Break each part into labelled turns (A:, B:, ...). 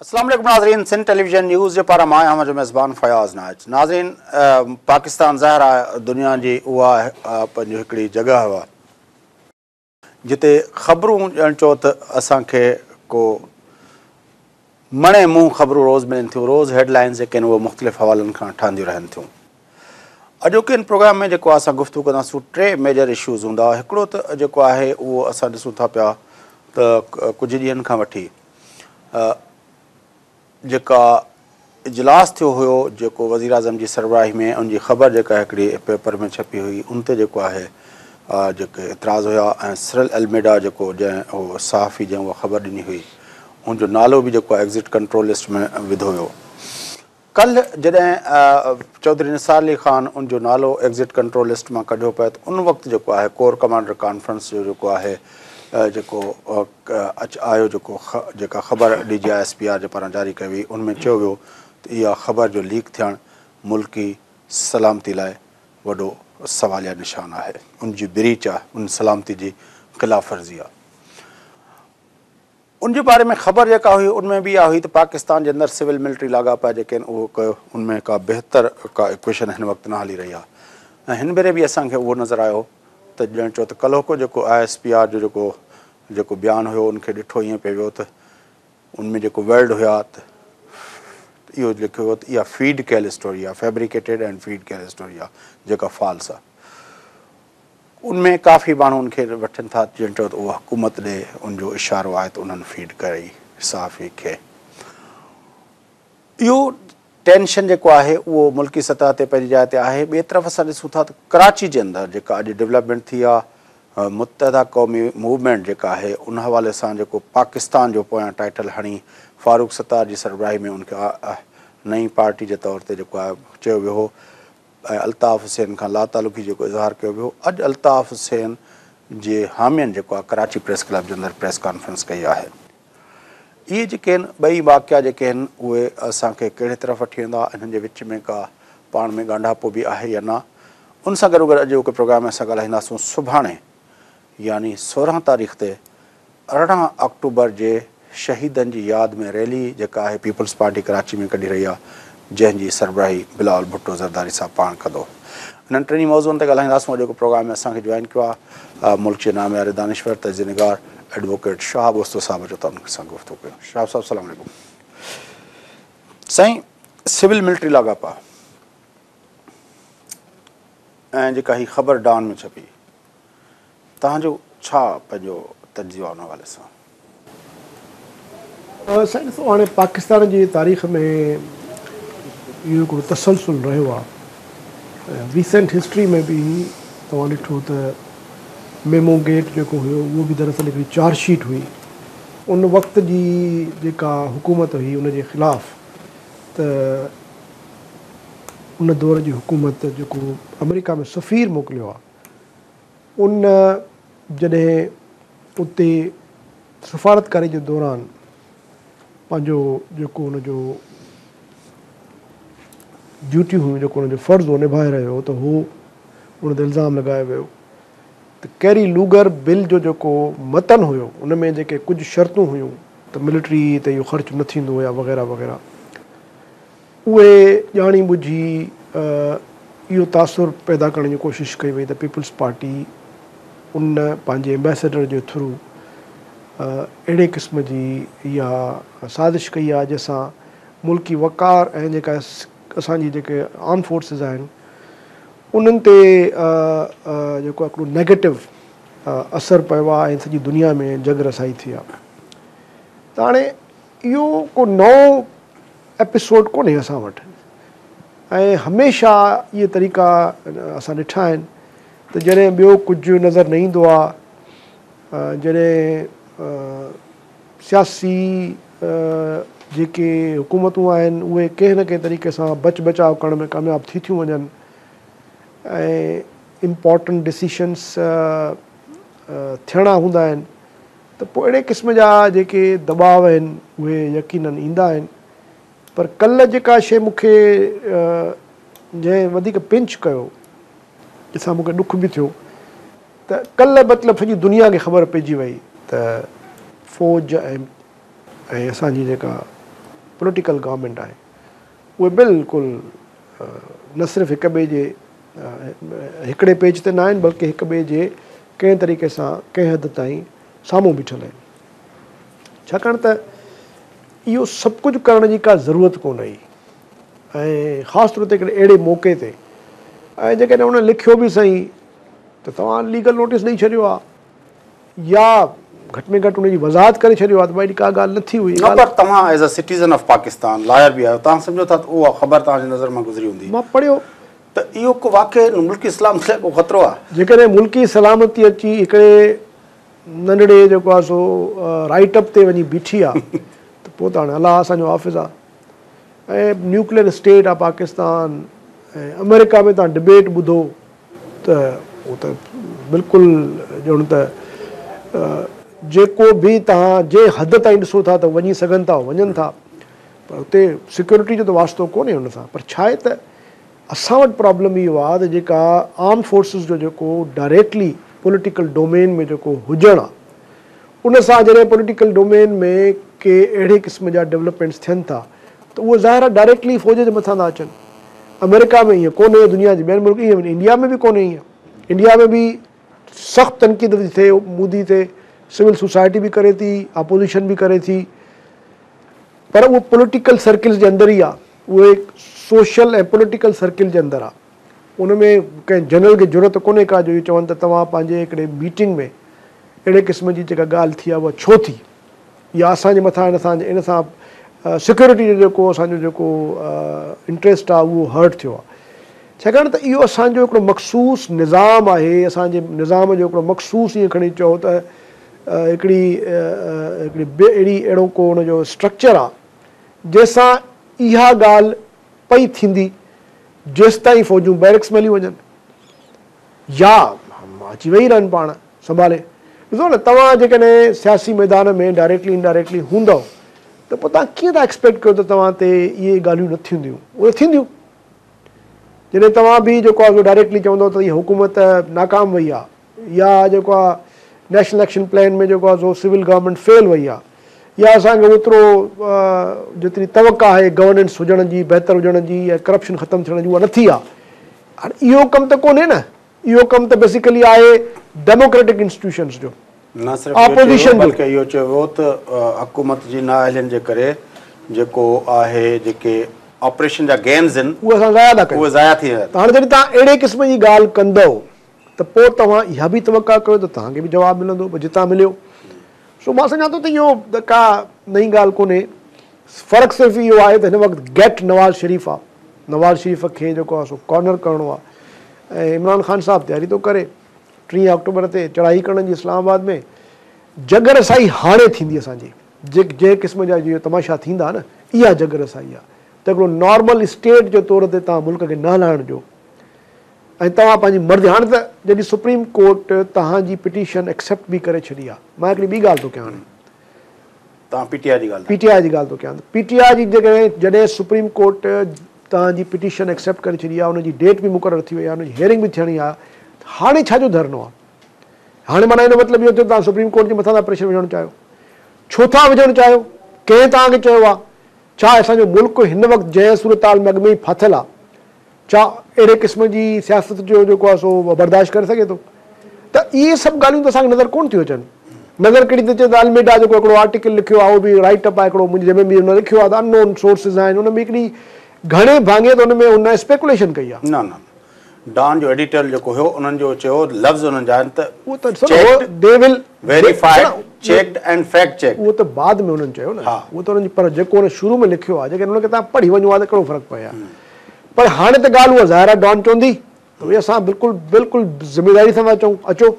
A: اسلام عليڪم ناظرين سنڌ ٽيليويزن نيوز جي پارا مان آهيان جو ميزبان فياض ناج ناظرين پاڪستان ظاهر آهي دنيا جي اها پنهنجي هڪڙي جڳهه هوا جتي خبرون ڄڻ چئو ته اسان کي ڪو مڻي منهن خبرون روز ملن ٿيون روز هيڊ لائنز جيڪي آهن اهي مختلف حوالن کان ٺهنديون رهن ٿيون اڄوڪي هن پروگرام ۾ جيڪو اسان گفتگو ڪنداسون ٽي ميجر اشوز هوندا هڪڙو ته جيڪو آهي اهو اسان ڏسون ٿا پيا ته ڪجهه ڏينهن کان وٺي جيڪا اجلاس ٿيو هيو جيڪو وزيراعظم جي سربراهي ۾ ان جي خبر جيڪا هڪڙي پيپر ۾ ڇپي هئي ان تي جيڪو آهي جيڪي اعتراض هيا ۽ سرل الميڊا جيڪو جنهن هو صحافي جنهن اها خبر ڏني هئي ان جو نالو به جيڪو ايگزٽ ڪنٽرول لسٽ ۾ وڌو ويو ڪلهه جڏهن چوڌري نثار علي خان ان جو نالو ايگزٽ ڪنٽرول لسٽ مان ڪڍيو پيو ته ان وقت جيڪو آهي ڪور ڪمانڊر ڪانفرنس جو جيڪو آهي جيڪو اچ آيو جيڪو جيڪا خبر D G I S P R جي پاران جاري ڪئي وئي ان ۾ چيو ويو ته اها خبر جو ليڪ ٿيڻ ملڪي سلامتي لاء وڏو سواليه نشان آهي ان جي بريچ آهي ان سلامتي جي خلاف ورزي آهي ان جي باري ۾ خبر جيڪا هئي ان ۾ به اها هئي ته پاڪستان جي اندر سول ملٽري لاڳاپا جيڪي آهن اهو ڪيو ان ۾ ڪا بهتر ڪا اڪويشن هن وقت نه هلي رهي آهي ۽ هن ڀيري به اسان کي اهو نظر آيو ته ڄڻ چئو ته ڪلهوڪو جيڪو آء ايس پي آر جو جيڪو جيڪو بيان هيو ان کي ڏٺو ائين پئي ويو ته ان ۾ جيڪو ورڊ هيا ته اهو لکيو ويو ته اها فيڊ ڪيل اسٽوري آهي فيبريڪيٽيڊ اينڊ فيڊ ڪيل اسٽوري آهي جيڪا فالس آهي ان ۾ ڪافي ماڻهو ان کي وٺن ٿا ڄڻ چئو ته اهو حڪومت ڏي ان جو اشارو آهي ته انهن فيڊ ڪري صحافي کي اهو ٽينشن جيڪو آهي اهو ملڪي سطح تي پنهنجي جاء تي آهي، ٻئي طرف اسان ڏسون ٿا ته ڪراچي جي اندر جيڪا اڄ ڊولپمينٽ ٿي آ، متحده قومي موومينٽ جيڪا آهي ان حوالي سان جيڪو پاڪستان جو پويان ٽائيٽل هڻي فاروق ستار جي سربراهي ۾ ان کي نئين پارٽي جي طور تي جيڪو آهي چيو ويو هو ۽ الطاف حسين کان لاتعلقي جيڪو اظهار ڪيو ويو اڄ الطاف حسين جي حامين جيڪو آهي ڪراچي پريس ڪلب جي اندر پريس ڪانفرنس ڪئي آهي. اهي جيڪي آهن ٻئي واقعا جيڪي آهن اهي اسان کي ڪهڙي طرف وٺي ويندا انهن جي وچ ۾ ڪا پاڻ ۾ ڳانڍاپو به آهي يا نه ان سان گڏوگڏ اڄ جو ڪي پروگرام اسان ڳالهائينداسون سڀاڻي يعني سورهن تاريخ تي ارڙهن آڪٽوبر جي شهيدن جي ياد ۾ ريلي جيڪا آهي پيپلز پارٽي ڪراچي ۾ ڪڍي رهي آهي جنهن جي سربراهي بلاول ڀٽو زرداري صاحب پاڻ ڪندو. انهن ٽنهي موضوعن تي ڳالهائينداسون اڄوڪي پروگرام ۾ اسان کي جوائن ڪيو آهي ملڪ جي نامياري دانشور تجزيه نگار ايڊووڪيٽ شهاب اوستو صاحب اچو ته انهن سان گفتگو ڪيون شهاب صاحب سلام عليڪم سائين سول ملٽري لاڳاپا ۽ جيڪا هي خبر ڊان ۾ ڇپي توهان جو ڇا پنهنجو تجزيو آ ان حوالي سان؟
B: سائين ڏسو هاڻي پاڪستان جي تاريخ ۾ اهو هڪڙو تسلسل رهيو آ ۽ ريسنٽ هسٽري ۾ به توهان ڏٺو ته ميمو گيٽ جيڪو هيو اهو به دراصل هڪڙي چارج شيٽ هئي ان وقت جي جيڪا حڪومت هئي ان جي خلاف ته ان دور جي حڪومت جيڪو آمريڪا ۾ سفير موڪليو آ ان جڏهن اتي سفارتڪاري جي دوران پنهنجو جيڪو ان جو ڊيوٽيون هيون جيڪو ان جو فرض هو نڀائي رهيو هو ته هو ان تي الزام لڳايو ويو ته ڪيري لوگر بل جو جيڪو متن هيو ان ۾ جيڪي ڪجهه شرطون هيون ته ملٽري تي اهو خرچ نه ٿيندو يا وغيره وغيره اهي ڄاڻي ٻجهي اهو تاثر پيدا ڪرڻ جي ڪوشش ڪئي وئي ته پيپلز پارٽي ان پنهنجي ايمبيسيڊر جي ٿرو اهڙي قسم جي اها سازش ڪئي آهي جنهن سان ملڪي وقار ۽ جيڪا اسان جي جيڪي آرم فورسز آهن انهن تي جيڪو هڪڙو نيگيٽو اثر پيو آهي ۽ سڄي دنيا ۾ جڳ رسائي ٿي آهي ته هاڻي اهو ڪو نئون ايپيسوڊ ڪونهي اسان وٽ ۽ هميشه اهي طريقا اسان ڏٺا آهن ته جڏهن ٻيو ڪجهه نظر نه ايندو آهي جڏهن سياسي جيڪي حڪومتون آهن اهي ڪنهن نه ڪنهن طريقي سان بچ بچاء ڪرڻ ۾ ڪامياب ٿي ٿيون وڃن ۽ امپورٽنٽ ڊسيشنس ٿيڻا هوندا آهن ته پوء اهڙي قسم جا جيڪي دٻاء آهن اهي يقيناً ايندا آهن پر ڪلهه جيڪا شيء مون کي جنهن وڌيڪ پنچ ڪيو جنهن سان مون کي ڏک به ٿيو ته ڪلهه مطلب سڄي دنيا کي خبر پئجي وئي ته فوج ۽ اسان جي جيڪا پوليٽيڪل گورنمينٽ آهي اهي بلڪل نه صرف هڪ ٻئي جي هڪڙي پيج تي نه آهن بلڪه هڪ ٻئي جي ڪنهن طريقي سان ڪنهن حد تائين سامهون بيٺل آهن ڇاڪاڻ ته اهو سڀ ڪجهه ڪرڻ جي ڪا ضرورت ڪونه هئي ۽ خاص طور تي هڪڙي اهڙي موقعي تي ۽ جيڪڏهن ان لکيو به سهي ته توهان ليگل نوٽيس ڏئي ڇڏيو آهي يا گهٽ ۾ گهٽ ان جي وضاحت ڪري ڇڏيو ها ته اهڙي ڪا ڳالهه نه ٿي هئي. نه پر توهان as a
A: citizen of Pakistan lawyer به آهيو توهان سمجهو ٿا ته اها خبر توهان جي نظر مان گذري هوندي. مان پڙهيو.
B: ته اهو ڪو
A: واقعي ملڪي سلامتي لاء ڪو خطرو آهي. جيڪڏهن ملڪي سلامتي
B: اچي هڪڙي ننڍڙي جيڪو آهي سو رائيٽ اپ تي وڃي بيٺي آهي ته پوء ته هاڻي الله اسان جو حافظ آهي ۽ نيوڪليئر اسٽيٽ آهي پاڪستان ۽ آمريڪا ۾ توهان ڊبيٽ ٻڌو ته هو ته بلڪل ڄڻ ته جيڪو به توهان جنهن حد تائين ڏسو ٿا ته وڃي سگهن ٿا وڃن ٿا پر هتي سيڪيورٽي جو ته واسطو ڪونهي ان سان پر ڇا آهي ته اسان وٽ پرابلم اهو آهي ته جيڪا آرم فورسز جو جيڪو ڊائريڪٽلي پوليٽيڪل ڊومين ۾ جيڪو هجڻ آهي ان سان جڏهن پوليٽيڪل ڊومين ۾ ڪي اهڙي قسم جا ڊولپمينٽس ٿين ٿا ته اهي ظاهرا ڊائريڪٽلي فوج جي مٿان ٿا اچن. آمريڪا ۾ ايئن ڪونهي دنيا جي ٻين ملڪ ايئن ڪونهي انڊيا ۾ به ڪونهي ايئن انڊيا ۾ به سخت تنقيد ٿي ٿئي مودي تي سول سوسائٽي به ڪري ٿي آپوزيشن به ڪري ٿي پر اهو پوليٽيڪل سرڪلز جي اندر ئي آهي اهي سوشل ۽ پوليٽيڪل سرڪل جي اندر آهي. ان ۾ ڪنهن جنرل کي جرئت ڪونهي ڪا جو اهو چون ته توهان پنهنجي هڪڙي ميٽنگ ۾ اهڙي قسم جي جيڪا ڳالهه ٿي آهي اها ڇو ٿي يا اسان جي مٿان ان سان ان سان سيڪيورٽي جو جيڪو اسان جو جيڪو انٽريسٽ آهي اهو هرٽ ٿيو آهي ڇاڪاڻ ته اهو اسان جو هڪڙو مخصوص نظام آهي اسان جي نظام جو هڪڙو مخصوص ائين کڻي چئو ته هڪڙي هڪڙي اهڙي اهڙو ڪو ان جو اسٽرڪچر آهي جنهن سان اها ڳالهه پئي ٿيندي جيستائين فوجون بيرڪس ۾ هليون وڃن يا اچي ويهي رهن پاڻ سنڀالي. ڏسو نه توهان جيڪڏهن سياسي ميدان ۾ ڊائريڪٽلي انڊائريڪٽلي هوندؤ ته پوء توهان ڪيئن ٿا ايڪسپيڪٽ ڪيو ته توهان تي اهي ڳالهيون نه ٿينديون، اهي ته ٿينديون. جڏهن توهان به جيڪو آهي سو ڊائريڪٽلي چوندؤ ته هيء حڪومت ناڪام وئي آهي. يا جيڪو آ نيشنل ايڪشن پلان ۾ جيڪو آ سو سول گورنمينٽ فيل وئي آ يا اسان کي اوترو جيتري توقع آهي گورننس هجڻ جي بهتر هجڻ جي يا ڪرپشن ختم ٿيڻ جي اها نه ٿي آ هاڻي اهو ڪم ته ڪونهي نه اهو ڪم ته بيسيڪلي آهي ڊيموڪريٽڪ انسٽيٽيوشنس جو نه صرف اهو
A: چئي ويو بلڪه اهو چئي ويو ته حڪومت جي نااهلين جي ڪري جيڪو آهي جيڪي آپريشن جا گينز آهن اهي اسان ضايع ٿا ڪيون اهي
B: ضايع ٿي ويا آهن هاڻي
A: جڏهن توهان اهڙي
B: قسم جي ڳالهه ڪندؤ ته پوء توهان اها به توقع ڪيو ته توهان کي به جواب ملندو به جتان مليو. سو مان سمجهان ٿو ته اهو ڪا نئين ڳالهه ڪونهي. فرق صرف اهو آهي ته هن وقت گيٽ نواز شريف آهي. نواز شريف کي جيڪو آهي سو ڪارنر ڪرڻو آهي ۽ عمران خان صاحب تياري ٿو ڪري ٽيهه آڪٽوبر تي چڙهائي ڪرڻ جي اسلام آباد ۾ جڳ رسائي هاڻي ٿيندي اسان جي جنهن قسم جا جيئن تماشا ٿيندا نه اها جڳ رسائي آهي ته هڪڙو نارمل اسٽيٽ جي طور تي توهان ملڪ کي نه هلائڻ ڏيو ۽ توهان پنهنجي مرضي هاڻي ته جڏهن سپريم ڪورٽ توهان جي پٽيشن ايڪسيپٽ به ڪري ڇڏي آ مان هڪڙي ٻي ڳالهه ٿو ڪيان هاڻي توهان
A: پي ٽي آء جي ڳالهه پي ٽي آء جي ڳالهه ٿو ڪيان پي
B: ٽي آء جي جيڪڏهن جڏهن سپريم ڪورٽ توهان جي پٽيشن ايڪسيپٽ ڪري ڇڏي آ ان جي ڊيٽ به مقرر ٿي وئي آ ان جي هيئرنگ به ٿيڻي آ ته هاڻي ڇا جو ڌرڻو آ هاڻي معنيٰ ان جو مطلب اهو ٿيو توهان سپريم ڪورٽ جي مٿان ٿا پريشر وجهڻ چاهيو ڇو ٿا وجهڻ چاهيو ڪنهن توهان کي چيو آ ڇا اسان جو ملڪ هن وقت جنهن صورتحال ۾ اڳ ۾ ئي ڦاٿل آ ڇا اهڙي قسم جي سياست جو جيڪو آهي سو برداشت ڪري سگهي ٿو؟ ته اهي سڀ ڳالهيون ته اسان کي نظر ڪونه ٿيون اچن. نظر ڪهڙي ٿي اچي ته الميڊا جيڪو هڪڙو آرٽيڪل لکيو آهي اهو به رائيٽ اپ آهي هڪڙو منهنجي جنهن ۾ به ان ۾ لکيو آهي ته ان نون سورسز آهن ان ۾ هڪڙي گهڻي ڀاڱي ته ان ۾ هن اسپيڪوليشن ڪئي آهي. نه نه
A: ڊان جو ايڊيٽر جيڪو هيو انهن جو چيو لفظ انهن جا آهن ته اهو ته ڏسو نه they
B: will verified
A: checked and fact checked. اهو ته بعد ۾ انهن چيو
B: نه اهو ته انهن جي پر جيڪو انهن شروع ۾ لکيو آهي جيڪڏهن ان کي توهان پڙهي وڃو ها ته ڪهڙو فرق پوي ها. پر هاڻي ته ڳالهه اها ظاهر آهي ڊان چوندي ته اهي اسان بلڪل بلڪل ذميواري سان ٿا چئون اچو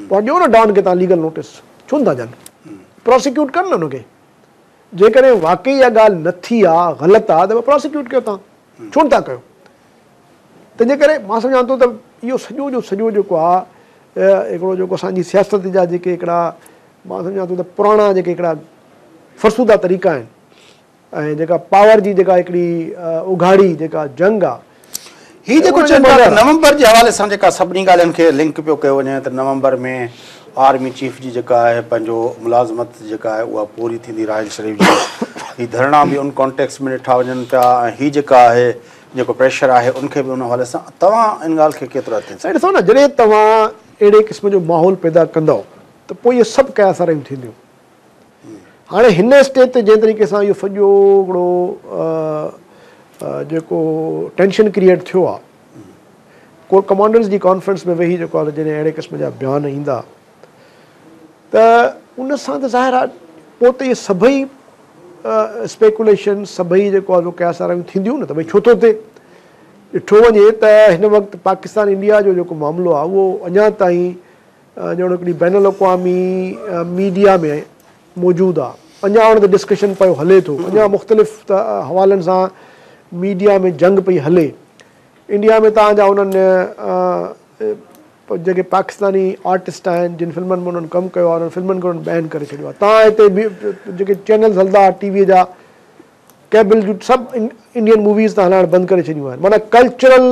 B: پوء ڏيو نه ڊان کي تان ليگل نوٽس ڇو نٿا ڏين پراسيڪيوٽ ڪن نه ان کي جيڪڏهن واقعي اها ڳالهه نه ٿي آهي غلط آهي ته پراسيڪيوٽ ڪيو تان ڇو نٿا ڪيو تنهنجي ڪري مان سمجهان ٿو ته اهو سڄو جو سڄو جيڪو آهي هڪڙو جيڪو اسان جي سياست جا جيڪي هڪڙا مان سمجهان ٿو ته پراڻا جيڪي هڪڙا فرسوده طريقا آهن ۽ جيڪا پاور جي جيڪا هڪڙي اگهاڙي جيڪا جنگ آ. هي جيڪو چئن ٿا ته
A: نومبر جي حوالي سان جيڪا سڀني ڳالهين کي لنڪ پيو ڪيو وڃي ته نومبر ۾ آرمي چيف جي جيڪا آهي پنهنجو ملازمت جيڪا آهي اها پوري ٿيندي راحيل شريف جي هي ڌرڻا به ان ڪانٽيڪس ۾ ڏٺا وڃن پيا ۽ هي جيڪا آهي جيڪو پريشر آهي ان کي به ان حوالي سان توهان ان ڳالهه کي ڪيترو اٿي سائين ڏسو نه جڏهن توهان
B: اهڙي قسم جو ماحول پيدا ڪندؤ ته پوء اهي سڀ ڪياساريون ٿينديون. هاڻي هن اسٽيج تي جنهن طريقي سان اهو سڄو هڪڙو جيڪو ٽينشن ڪريئيٽ ٿيو آهي ڪور ڪمانڊرز جي ڪانفرنس ۾ ويهي جيڪو جڏهن اهڙي قسم جا بيان ايندا ته ان سان ته ظاهر آهي پوء ته اهي سڀئي اسپيڪوليشن سڀئي جيڪو آهي سو قياس آرايون ٿينديون نه ته ڀئي ڇو ٿو ٿئي ڏٺو وڃي ته هن وقت پاڪستان انڊيا جو جيڪو معاملو آهي اهو اڃا تائين جهڙوڪ بين الاقوامي ميڊيا ۾ موجود آ اڃا ان تي ڊسڪشن پيو هلي ٿو اڃا مختلف حوالن سان ميڊيا ۾ جنگ پئي هلي انڊيا ۾ تان جا انهن جيڪي پاڪستاني آرٽسٽ آهن جن فلمن ۾ انهن ڪم ڪيو آ انهن فلمن کي انهن بين ڪري ڇڏيو آ تان هتي جيڪي چينلز هلندا آ ٽي وي جا ڪيبل جون سڀ انڊين موويز تان هلائڻ بند ڪري ڇڏيون آهن معنيٰ ڪلچرل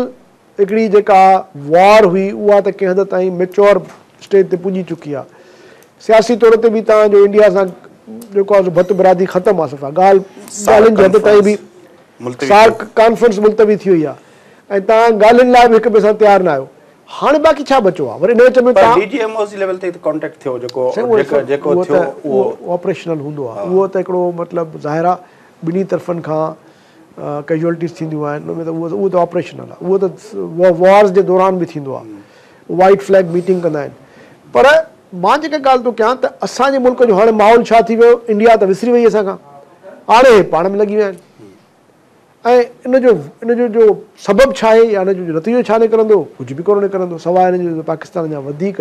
B: هڪڙي جيڪا وار هئي اها ته ڪنهن حد تائين ميچوئر اسٽيج تي پڄي چڪي آهي. سياسي طور تي به تان جو انڊيا سان جيڪو آهي سو ڀت برادري ختم آهي صفا ڳالهه ڳالهين جي حد تائين به سارڪ ڪانفرنس ملتوي ٿي وئي آهي ۽ تان ڳالهين لاء به هڪ ٻئي سان تيار نه آهيو. هاڻي باقي ڇا بچو آهي وري ان وچ ۾ تان ڊي جي ايم او جي ليول تي ته ڪانٽيڪٽ ٿيو جيڪو جيڪو ٿيو اهو آپريشنل هوندو آهي اهو ته هڪڙو مطلب ظاهر آهي ٻنهي طرفن کان ڪيجوئلٽيز ٿينديون آهن ان ۾ ته اهو ته آپريشنل آهي اهو ته وارز جي دوران به ٿيندو آهي وائيٽ فليگ ميٽنگ ڪندا آهن پر مان جيڪا ڳالهه ٿو ڪيان ته اسان جي ملڪ جو هاڻي ماحول ڇا ٿي ويو انڊيا ته وسري وئي اسان کان هاڻي اهي پاڻ ۾ لڳي ويا آهن ۽ ان جو ان جو جو سبب ڇا آهي يا ان جو جو نتيجو ڇا نڪرندو ڪجهه به ڪونه نڪرندو سواء ان جي جو پاڪستان اڃا وڌيڪ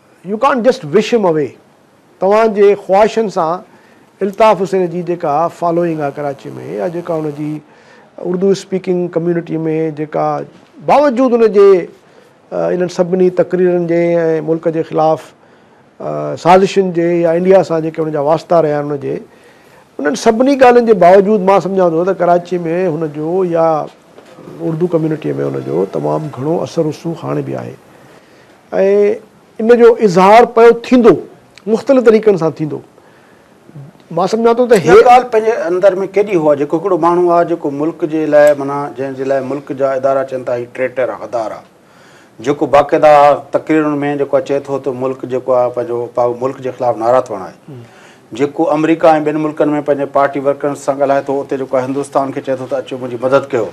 B: you can't just wish them away توھان جي خواھشن سان الطاف حسين جي جيڪا فالوئنگ آ ڪراچي ۾ يا جيڪا ان جي اردو اسپيڪنگ ڪميونٽي ۾ جيڪا باوجود ان جي انھن سڀني تقريرن جي ۽ ملڪ جي خلاف سازشن جي يا انڊيا سان جيڪي ان جا واسطا رھيا آھن ان جي انھن سڀني ڳالھين جي باوجود مان سمجھان ٿو ته ڪراچي ۾ ھن جو يا اردو ڪميونٽي ۾ ان جو تمام گھڻو اثر رسوخ ھاڻي به آھي. ۽ ان جو اظهار پيو ٿيندو مختلف طريقن سان ٿيندو مان سمجهان ٿو ته هي. اها ڳالهه پنهنجي
A: اندر ۾ ڪيڏي هو آهي جيڪو هڪڙو ماڻهو آهي جيڪو ملڪ جي لاء معنيٰ جنهن جي لاء ملڪ جا ادارا چين ٿا هي ٽريٽر آهي غدار آهي جيڪو باقاعده تقريرن ۾ جيڪو آهي چئي ٿو ته ملڪ جيڪو آهي پنهنجو ملڪ جي خلاف نعرا ٿو هڻائي جيڪو آمريڪا ۽ ٻين ملڪن ۾ پنهنجي پارٽي ورڪرن سان ڳالهائي ٿو اتي جيڪو هندستان کي چئي ٿو ته اچو منهنجي مدد ڪيو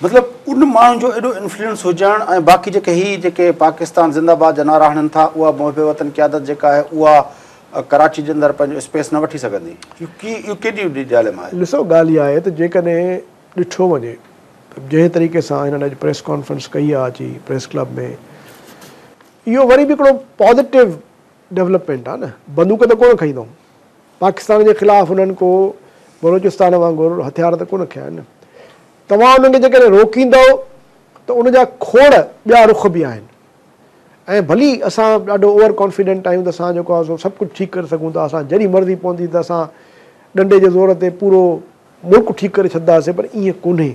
A: مطلب ان ماڻهن جو ايڏو انفلوئنس هجڻ ۽ باقي جيڪي هي جيڪي پاڪستان زنده آباد جا نعرا هڻن ٿا اها محب وطن قيادت جيڪا آهي اها ڪراچي جي اندر پنهنجو اسپيس نه وٺي سگهندي اهو ڪيڏي وڏي ڊائليما آهي. ڏسو ڳالهه اها آهي ته
B: جيڪڏهن ڏٺو وڃي ته جنهن طريقي سان هنن اڄ پريس ڪانفرنس ڪئي آهي اچي پريس ڪلب ۾ اهو وري به هڪڙو پازيٽو ڊولپمينٽ آ نه بندوق ته ڪونه کنئي اٿئون پاڪستان جي خلاف انهن ڪو بلوچستان وانگر هٿيار ته ڪونه کنيا آهن توهان انهن کي جيڪڏهن روڪيندؤ ته ان جا کوڙ ٻيا رخ به آهن ۽ ڀلي اسان ڏاڍو اوور ڪانفيڊنٽ آهيون ته اسان جيڪو آ سو سڀ ڪجهه ٺيڪ ڪري سگهون ٿا اسان جڏهن مرضي پوندي ته اسان ڏنڊي جي زور تي پورو ملڪ ٺيڪ ڪري ڇڏداسين پر ائين ڪونهي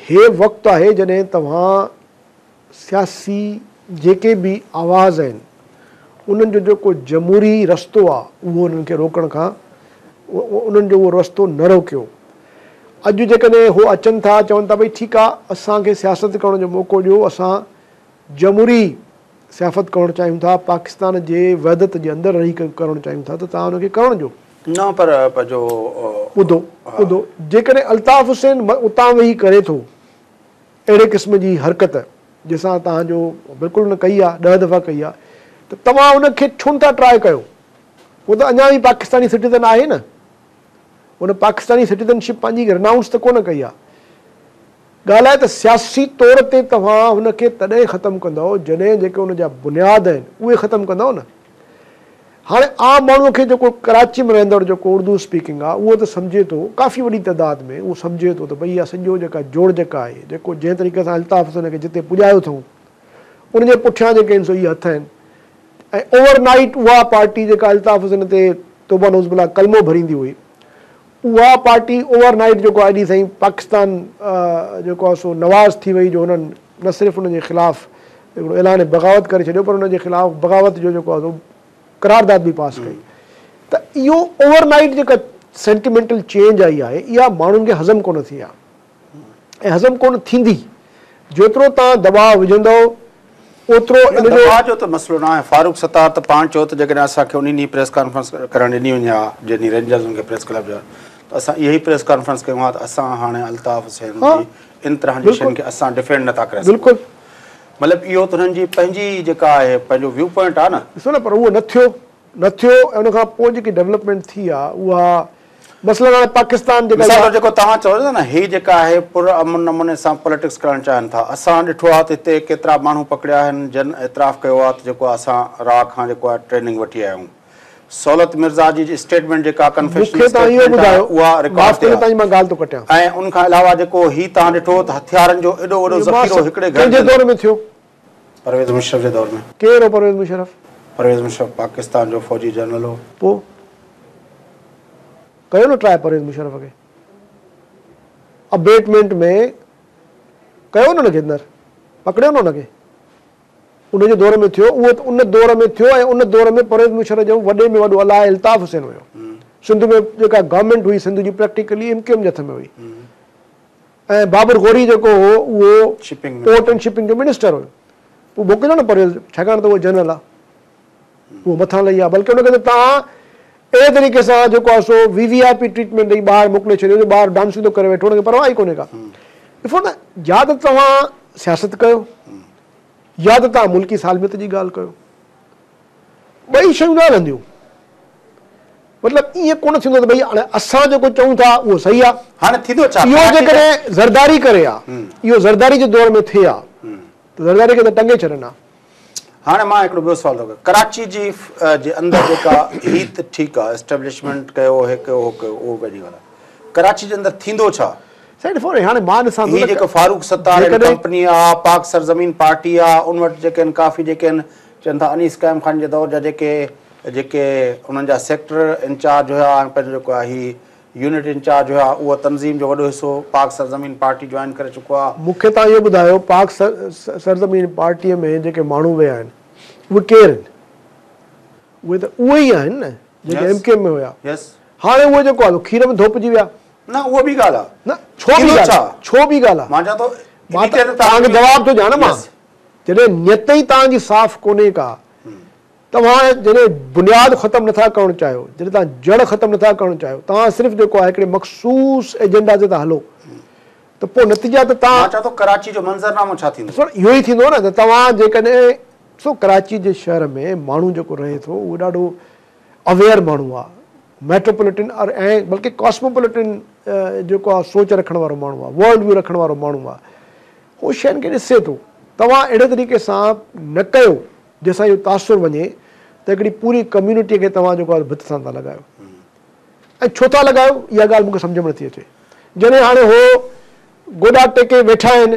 B: هي وقت آهي جڏهن توهان سياسي جيڪي به آواز آهن انهن جو جيڪو جمهوري رستو آ اهو انهن کي روڪڻ کان انهن جو اهو رستو نه روڪيو اڄ جيڪڏهن هو اچن ٿا چون ٿا ڀئي ٺيڪ آ اسان کي سياست ڪرڻ جو موقعو ڏيو اسان جمهوري سيافت ڪرڻ چاهيون ٿا پاڪستان جي وحدت جي اندر رهي ڪرڻ چاهيون ٿا ته توهان ان کي ڪرڻ ڏيو. نه پر
A: جو ٻڌو ٻڌو
B: جيڪڏهن الطاف حسين اتان ويهي ڪري ٿو. اهڙي قسم جي حرڪت جنهن سان توهان جو بلڪل ان ڪئي آهي ڏهه دفعا ڪئي آهي ته توهان ان کي ڇو نٿا ٽراء ڪيو هو ته اڃا به پاڪستاني سٽيزن آهي نه هن پاڪستاني سٽيزن شپ پنهنجي رنائونس ته ڪونه ڪئي آهي ڳالهه آهي ته سياسي طور تي توهان هن کي تڏهن ختم ڪندؤ جڏهن جيڪي ان جا بنياد آهن اهي ختم ڪندؤ نه. هاڻي عام ماڻهو کي جيڪو ڪراچي ۾ رهندڙ جيڪو اردو اسپيڪنگ آ اهو ته سمجهي ٿو ڪافي وڏي تعداد ۾ اهو سمجهي ٿو ته ڀئي اها سڄو جيڪا جوڙجڪ آهي جيڪو جنهن طريقي سان الطاف حسين کي جتي پڄايو اٿئون ان جي پٺيان جيڪي آهن سو اهي هٿ آهن ۽ اوور نائيٽ اها پارٽي جيڪا الطاف حسين تي توبه نعوذ بالله ڪلمو ڀريندي هئي اها پارٽي اوور نائيٽ جيڪو آء ڊي سائين پاڪستان جيڪو آهي سو نواز ٿي وئي جو انهن نه صرف ان جي خلاف هڪڙو اعلان بغاوت ڪري ڇڏيو پر ان جي خلاف بغاوت جو جيڪو آهي قرارداد به پاس ڪئي ته اهو اوور نائيٽ جيڪا سينٽيمينٽل چينج آئي آهي اها ماڻهن کي هضم ڪونه ٿي آهي. ۽ هضم ڪونه ٿيندي. جيترو توهان دٻاء وجهندؤ اوترو ان جو. دٻاء جو ته
A: مسئلو ناهي. فاروق ستار ته پاڻ چيو ته جيڪڏهن اسان کي انهي ڏينهن پريس ڪانفرنس ڪرڻ ڏني وڃي ها جنهن ڏينهن رينجرز ان کي پريس ڪلب جا ته اسان اها ئي پريس ڪانفرنس ڪيون ها ته اسان هاڻي الطاف حسين جي ان طرحن جي شين کي اسان ڊفينڊ نٿا ڪري سگهون. مطلب
B: اهو ته
A: انهن جي پنهنجي جيڪا آهي پنهنجو ويو پوائنٽ آهي نه. ڏسو نه پر اهو نه ٿيو
B: نه ٿيو ۽ ان کان پوء جيڪي ڊولپمينٽ ٿي آهي اها. مثلاً هاڻي پاڪستان جيڪا مثال طور جيڪو توهان چئو ٿا نه
A: هي جيڪا آهي پر امن نموني سان پوليٽڪس ڪرڻ چاهن ٿا اسان ڏٺو آهي ته هتي ڪيترا ماڻهو پڪڙيا آهن جن اعتراف ڪيو آهي ته جيڪو اسان را کان جيڪو آهي ٽريننگ وٺي آيا آهيون سهولت مرزا جي اسٽيٽمينٽ جيڪا ڪنفيشنل اسٽيٽمينٽ آهي اها رڪارڊ تي آهي ۽ ان کان علاوه جيڪو هي توهان ڏٺو ته هٿيارن جو ايڏو وڏو ذخيرو هڪڙي گهر جي اندر
B: پرويز مشرف
A: جي دور ۾. ڪير هو پرويز مشرف؟
B: پرويز مشرف
A: پاڪستان جو فوجي جنرل هو. پوء
B: ڪيو نه ٽراء پرويز مشرف کي ابيٽمينٽ ۾ ڪيو نه ان کي اندر پڪڙيو نه ان کي ان جي دور ۾ ٿيو اهو ته ان دور ۾ ٿيو ۽ ان دور ۾ پرويز مشرف جو وڏي ۾ وڏو الاء الطاف حسين هيو سنڌ ۾ جيڪا گورنمينٽ هئي سنڌ جي پريڪٽيڪلي ايم ڪيو ايم جي هٿ ۾ هئي. ۽ بابر غوري جيڪو هو اهو پورٽ ۽ شپنگ جو منسٽر هيو. پوء موڪليو نه پرويز ڇاڪاڻ ته اهو جنرل آ. اهو مٿان لهي آ بلڪه ان کي ته توهان اهڙي طريقي سان جيڪو آ سو V V I P treatment ڏئي ٻاهر موڪلي ڇڏيو جو ٻاهر ڊانسون ٿو ڪري ويٺو ان کي پرواهه ئي ڪونهي ڪا. ڏسو نه يا ته توهان سياست ڪيو يا ته توهان ملڪي سالميت جي ڳالهه ڪيو. ٻئي شيون نه هلنديون. مطلب ائين ڪونه ٿيندو ته ڀئي هاڻي اسان جيڪو چئون ٿا اهو صحيح آ. هاڻي ٿيندو ڇا؟ اهو
A: جيڪڏهن
B: زرداري ڪري ها. اهو زرداري جي دور ۾ ٿئي ها ته زرداري کي ته ٽنگي ڇڏن ها. هاڻي مان
A: هڪڙو ٻيو سوال ٿو ڪيان. ڪراچي جي جي اندر جيڪا هي ته ٺيڪ آ اسٽيبلشمينٽ ڪيو هي ڪيو هو ڪيو اهو پنهنجي ڳالهه آ. ڪراچي جي اندر ٿيندو ڇا؟ سائين ڏسو نه هاڻي مان
B: ڏسان ٿو ته. هي جيڪو فاروق ستار
A: ڪمپني آ، پاڪ سرزمين پارٽي آ، ان وٽ جيڪي آهن ڪافي جيڪي آهن. چون ٿا انيس قائم خان جي دور جا جيڪي جيڪي انهن جا سيڪٽر انچارج هيا ۽ پنهنجو جيڪو آهي هي يونٽ انچارج هيا اهو تنظيم جو وڏو حصو پاڪ سرزمين پارٽي جوائن ڪري چڪو آهي. مون کي توهان اهو ٻڌايو
B: پاڪ سرزمين پارٽي ۾ جيڪي ماڻهو ويا آهن اهي ڪير آهن؟ اهي ته اهي ئي آهن نه جيڪي ايم ڪيو ايم ۾ هيا هاڻي اهي جيڪو آهي کير ۾ ڌوپجي ويا. نه اها ٻي ڳالهه
A: آهي. نه ڇو ٻي ڳالهه آهي
B: ڇو ٻي ڳالهه آهي مان چوان ٿو
A: مان
B: ته
A: توهان کي
B: جواب ٿو ڏيان نه مان جڏهن نيت ئي توهان جي صاف ڪونهي ڪا، توهان جڏهن بنياد ختم نٿا ڪرڻ چاهيو، جڏهن توهان جڙ ختم نٿا ڪرڻ چاهيو، توهان صرف جيڪو آهي هڪڙي مخصوص ايجنڊا تي ٿا هلو ته پوء نتيجا ته توهان. مان چان ٿو ڪراچي جو
A: منظرنامو ڇا ٿيندو؟ ڏسو اهو ئي ٿيندو نه ته
B: توهان جيڪڏهن ڏسو ڪراچي جي شهر ۾ ماڻهو جيڪو رهي ٿو اهو ڏاڍو. اويئر ماڻهو آ، ميٽروپوليٽن ار ۽ بلڪه ڪاسموپوليٽن جيڪو آ سوچ رکڻ وارو ماڻهو آ، ورلڊ ويو رکڻ وارو ماڻهو آ، هو شين کي ڏسي ٿو. توهان اهڙي طريقي سان نه ڪيو جنهن سان اهو تاثر وڃي ته هڪڙي پوري ڪميونٽي کي توهان جيڪو آ ڀت سان ٿا لڳايو ۽ ڇو ٿا لڳايو اها ڳالهه مون کي سمجهه ۾ نٿي اچي. جڏهن هاڻي هو گوڏا ٽيڪي ويٺا آهن.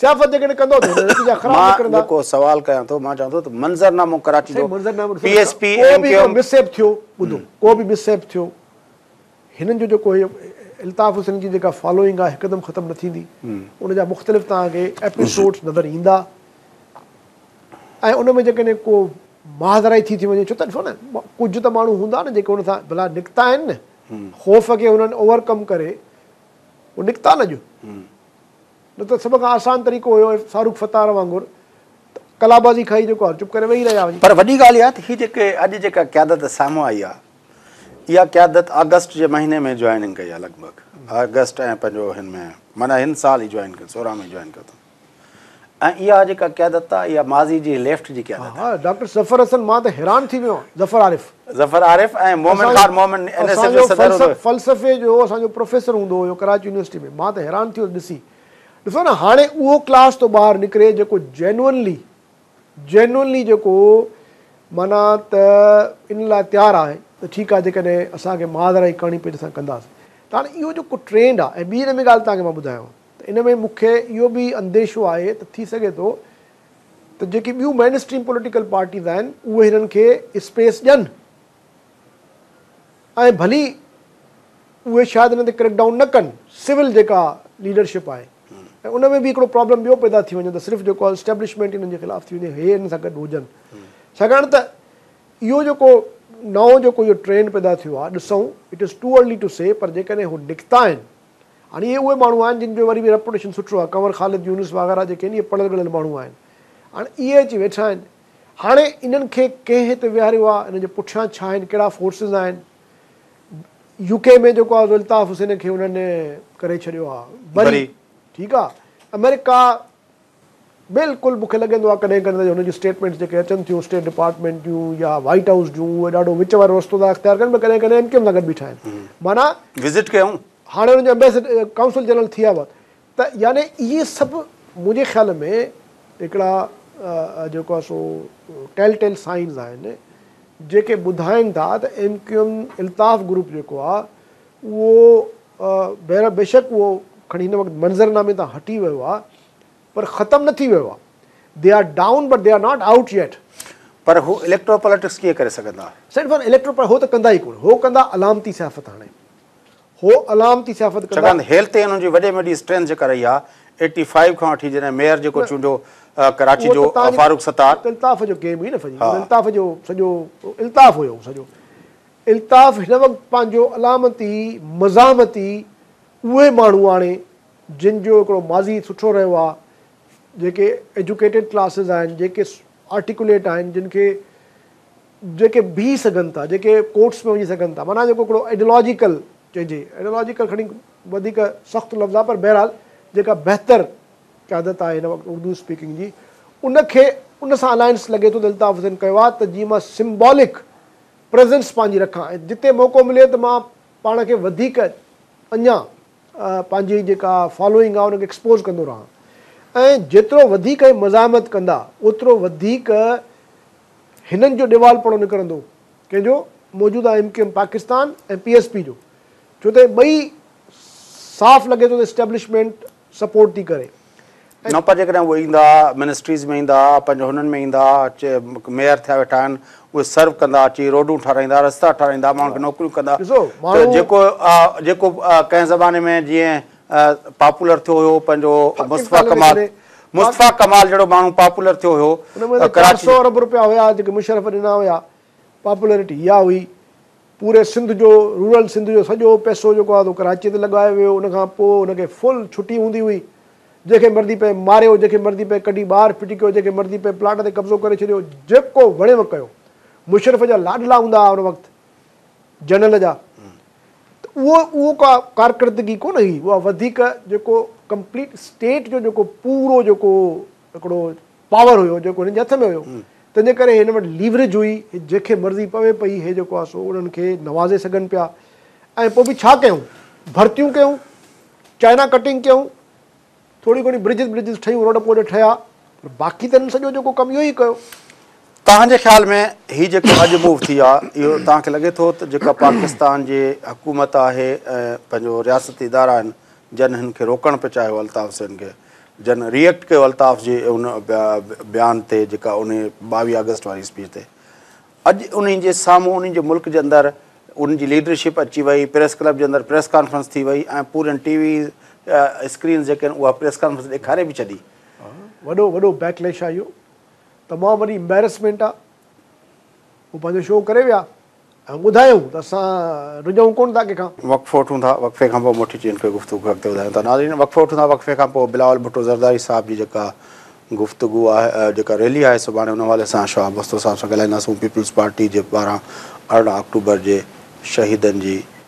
B: سياست جيڪڏهن ڪندو ته هن نتيجا خراب مان نڪرندا. جيڪو سوال ڪيان
A: ٿو مان چوان ٿو ته منظرنامو ڪراچي سائين جو منظرنامو ڏسو پي ايس پي ڪو ايم به ڪيو هڪڙو ايم مس ايپ ٿيو
B: ٻڌو ڪو به مس ايپ ٿيو هنن جو جيڪو هي الطاف حسين جي جيڪا فالوئنگ آهي هڪدم ختم نه ٿيندي ان جا مختلف توهان کي ايپيسوڊز نظر ايندا ۽ ان ۾ جيڪڏهن ڪو ماهدرائي ٿي ٿي وڃي ڇو ته ڏسو نه ڪجهه ته ماڻهو هوندا نه جيڪي ان سان بلا نڪتا آهن نه خوف کي هنن اوور ڪم ڪري هو نڪتا نه اڄ نه ته سڀ کان آسان طريقو هيو فاروق ستار وانگر ته
A: ڪلابازي
B: کائي
A: جيڪو
B: آهي چپ
A: ڪري ويهي رهي آ
B: وڃي.
A: پر وڏي ڳالهه
B: اها
A: ته هي
B: جيڪي
A: اڄ جيڪا قيادت سامهون آئي آ اها قيادت آگسٽ جي مهيني ۾ جوائننگ ڪئي آ لڳ ڀڳ آگسٽ ۽ پنهنجو هن ۾ معنيٰ هن سال ئي جوائن ڪيو سورهن ۾ جوائن ڪيو اٿن ۽ اها جيڪا قيادت آ اها ماضي جي ليفٽ جي قيادت آ. ها ها ڊاڪٽر ظفر حسن
B: مان ته حيران ٿي ويو آهيان ظفر عارف. ظفر
A: عارف ۽ Momin Khan Momin N S F جو صدر هوندو هيو. فلسفي جو اسان جو
B: پروفيسر هوندو هيو ڪراچي يونيورسٽي ۾ مان ته حيران ٿيو ڏسي ڏسو نه هاڻي اهو ڪلاس ٿو ٻاهر نڪري جيڪو جينونلي جينونلي جيڪو معنيٰ ته ان لاء تيار آهي ته ٺيڪ آهي جيڪڏهن اسان کي ماهر آهي ڪهاڻي پيٽ سان ڪنداسين ته هاڻي اهو جيڪو ٽرينڊ آهي ۽ ٻي ان ۾ ڳالهه تهان کي مان ٻڌايان ته ان ۾ مون کي اهو به انديشو آهي ته ٿي سگهي ٿو ته جيڪي ٻيون مين اسٽريم پوليٽيڪل پارٽيز آهن اهي هنن کي اسپيس ڏين ۽ ڀلي اهي شايد هنن تي ڪريڪ ڊائون نه ڪن سول جيڪا ليڊرشپ آهي ۽ ان ۾ به هڪڙو پرابلم ٻيو پيدا ٿي وڃي ته صرف جيڪو آهي اسٽيبلشمينٽ هنن جي خلاف ٿي وڃي هي هنن سان گڏ هجن ڇاڪاڻ ته اهو جيڪو نئون جيڪو اهو ٽرينڊ پيدا ٿيو آهي ڏسون it is too early to see پر جيڪڏهن هو نڪتا آهن هاڻي اهي اهي ماڻهو آهن جن جو وري به ريپوٽيشن سٺو آهي ڪنور خالد يونس وغيره جيڪي آهن اهي پڙهيل ڳڙهيل ماڻهو آهن هاڻي اهي اچي ويٺا آهن هاڻي انهن کي ڪنهن هتي ويهاريو آهي انهن جي پٺيان ڇا آهن ڪهڙا فورسز آهن يوڪي ۾ جيڪو آهي الطاف حسين کي انهن ڪري ڇڏيو آهي بري ٺيڪ آهي امريڪا بلڪل مون کي لڳندو آهي ڪڏهن ڪڏهن ته هن جون اسٽيٽمينٽس جيڪي اچن ٿيون اسٽيٽ ڊپارٽمينٽ جون يا وائيٽ هائوس جون اهي ڏاڍو وچ وارو رستو ٿا اختيار ڪن پر ڪڏهن ڪڏهن ايم ڪيو ايم سان گڏ بيٺا آهن معنيٰ وزٽ ڪيائون.
A: هاڻي هنن جا امبيسڊ
B: ڪائونسل جنرل ٿي ويا هئا ته يعني اهي سڀ منهنجي خيال ۾ هڪڙا جيڪو آهي سو ٽيل ٽيل سائنز آهن جيڪي ٻڌائين ٿا ته M Q M Altaf group جيڪو آهي اهو بهرحال بيشڪ اهو کڻي هن وقت منظرنامي تان هٽي ويو آهي پر ختم نه ٿي ويو آهي. They are down but they are not out yet. پر هو
A: اليڪٽرو پاليٽڪس ڪيئن ڪري سگهندا؟ سائين فر اليڪٽرو پر هو
B: ته ڪندا ئي ڪونه هو ڪندا علامتي سيافت هاڻي هو علامتي سيافت ڪندا. ڇاڪاڻ ته هيلٿ ۽ انهن جي وڏي
A: ۾ وڏي اسٽرينٿ جيڪا رهي آهي ايٽي فائيو کان وٺي جڏهن ميئر جيڪو چونڊيو ڪراچي جو فاروق ستار. الطاف جو گيم هئي نه
B: سڄي الطاف جو سڄو الطاف هيو سڄو. الطاف هن وقت پنهنجو علامتي مزاحمتي اهي ماڻهو آڻي جن جو هڪڙو ماضي سٺو رهيو آهي جيڪي ايجوڪيٽيڊ ڪلاسز آهن جيڪي آرٽيڪوليٽ آهن جن کي جيڪي بيهي سگهن ٿا جيڪي ڪورٽس ۾ وڃي سگهن ٿا معنيٰ جيڪو هڪڙو ايڊيلاجيڪل چئجي ايڊيلاجيڪل کڻي وڌيڪ سخت لفظ آهي پر بهرحال جيڪا بهتر قيادت آهي هن وقت اردو اسپيڪنگ جي ان کي ان سان الائنس لڳي ٿو ته الطاف حسين ڪيو آهي ته جيئن مان سمبالڪ پريزنس پنهنجي رکان ۽ جتي موقعو ملي ته مان پاڻ کي وڌيڪ اڃا پنهنجي جيڪا فالوئنگ آهي ان کي ايڪسپوز ڪندو رهان ۽ جيترو وڌيڪ هي مزاحمت ڪندا اوترو وڌيڪ هنن جو ڏيوالپڻو نڪرندو ڪنهن جو موجوده M Q M Pakistan ۽ P S P جو ڇو ته هي ٻئي صاف لڳي ٿو ته اسٽيبلشمينٽ سپورٽ ٿي ڪري. نه پر جيڪڏهن
A: اهي ايندا منسٽريز ۾ ايندا پنهنجي هنن ۾ ايندا اچي ميئر ٿيا ويٺا آهن اهي سرو ڪندا اچي روڊون ٺارايندا رستا ٺارايندا ماڻهن کي نوڪريون ڪندا ته جيڪو جيڪو ڪنهن زماني ۾ جيئن پاپولر ٿيو هيو پنهنجو مصطفيٰ ڪمال مصطفيٰ ڪمال جهڙو ماڻهو پاپولر ٿيو هيو ڪراچي ۾ چار سئو ارب
B: روپيا هيا جيڪي مشرف ڏنا هيا پاپولرٽي اها هئي پوري سنڌ جو رورل سنڌ جو سڄو پئسو جيڪو آهي سو ڪراچي تي لڳايو ويو ان کان پوء ان کي فل ڇٽي هوندي هئي جنهن کي مرضي پئي ماريو جنهن کي مرضي پئي ڪڍي ٻاهر ڦٽي ڪيو جنهن کي مرضي پئي پلاٽ تي قبضو ڪري ڇڏيو جيڪو وڻيو ڪيو مشرف جا لاڏلا هوندا هئا ان وقت جنرل جا ته اهو اهو ڪا ڪارڪردگي ڪونه هئي اها وڌيڪ جيڪو ڪمپليٽ اسٽيٽ جو جيڪو پورو جيڪو هڪڙو پاور هيو جيڪو هنن جي هٿ ۾ هيو تنهن جي ڪري هن وٽ ليوريج هئي هي جنهن کي مرضي پوي پئي هي جيڪو آهي سو انهن کي نوازي سگهن پيا ۽ پوء به ڇا ڪيون ڀرتيون ڪيون چائنا ڪٽنگ ڪيون ٿوري گهڻي برجز برجز ٺهيون روڊ پوڊ ٺهيا پر باقي ته هنن سڄو جيڪو ڪم اهو ئي ڪيو توهان جي خيال
A: ۾ هي جيڪو اڄ موو ٿي آهي اهو توهان کي لڳي ٿو ته جيڪا پاڪستان جي حڪومت آهي ۽ پنهنجو رياستي ادارا آهن جن هن کي روڪڻ پئي چاهيو الطاف حسين کي جن ري ايڪٽ ڪيو الطاف جي ان بيان تي جيڪا انهي ٻاويهه آگسٽ واري اسپيچ تي اڄ انهن جي سامهون انهن جي ملڪ جي اندر انهن جي ليڊرشپ اچي وئي پريس ڪلب جي اندر پريس ڪانفرنس ٿي وئي ۽ پورين ٽي وي اسڪرينز جيڪي آهن اها پريس ڪانفرنس ڏيکاري به ڇڏي وڏو وڏو
B: بيڪ ليش آهي اهو تمام وڏي امبيرسمينٽ آهي هو پنهنجو شو ڪري ويا ۽ ٻڌايائون ته اسان رجعون ڪونه ٿا ڪنهن کان. وقفو وٺون ٿا، وقفي
A: کان پوء موٽي چين کي گفتگو کي اڳتي وڌايون ٿا. ناظرين وقفو وٺون ٿا، وقفي کان پوء بلاول ڀٽو زرداري صاحب جي جيڪا گفتگو آهي جيڪا ريلي آهي سڀاڻي ان حوالي سان شاهه مستو صاحب سان ڳالهائينداسون پيپلز پارٽي جي پاران ارڙهن آڪٽوبر جي شهيدن جي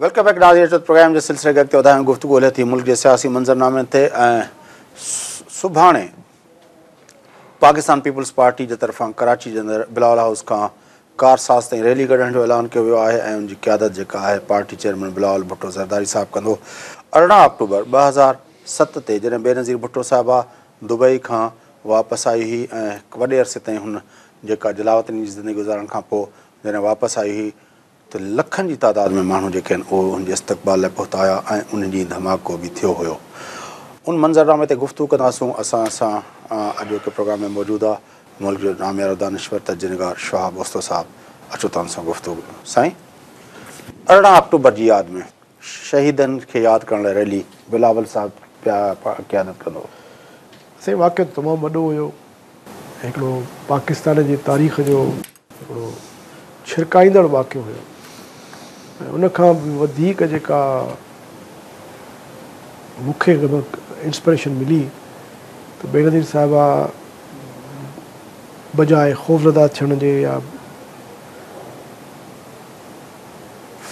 A: ويلڪم بيڪ ناظرين اچو پروگرام جي سلسلي کي اڳتي وڌايون گفتگو هلي ٿي ملڪ جي سياسي منظرنامي تي ۽ سڀاڻي پاڪستان پيپلز پارٽي جي طرفان ڪراچي جي اندر بلاول هائوس کان ڪار ساز تائين ريلي ڪڍڻ جو اعلان ڪيو ويو آهي ۽ ان جي قيادت جيڪا آهي پارٽي چيئرمين بلاول ڀٽو زرداري صاحب ڪندو ارڙهن آڪٽوبر ٻه هزار ست تي جڏهن بينظير ڀٽو صاحبه دبئي کان واپس آئي هئي ۽ وڏي عرصي تائين هن جيڪا جلاوطني جي زندگي گذارڻ کان پوء جڏهن واپس آئي هئي ته لکن جي تعداد ۾ ماڻهو جيڪي آهن اهي ان جي استقبال لاء پهتا هيا ۽ ان ڏينهن ڌماڪو به ٿيو هيو ان منظرنامي تي گفتگو ڪنداسون اسان سان اڄوڪي پروگرام ۾ موجود آ ملڪ جو ناميارو دانشور تجزيه نگار شهاب اوستو صاحب اچو تان سان گفتگو سائين ارڙهن آڪٽوبر جي ياد ۾ شهيدن کي ياد ڪرڻ لاء ريلي بلاول صاحب پيا قيادت ڪندو سائين
B: واقعي تمام وڏو هيو هڪڙو پاڪستان جي تاريخ جو. هڪڙو ڇرڪائيندڙ واقعو هيو ۽ ان کان به وڌيڪ جيڪا مون کي انسپريشن ملي ته بينظير صاحبه بجاء خوفزده ٿيڻ جي يا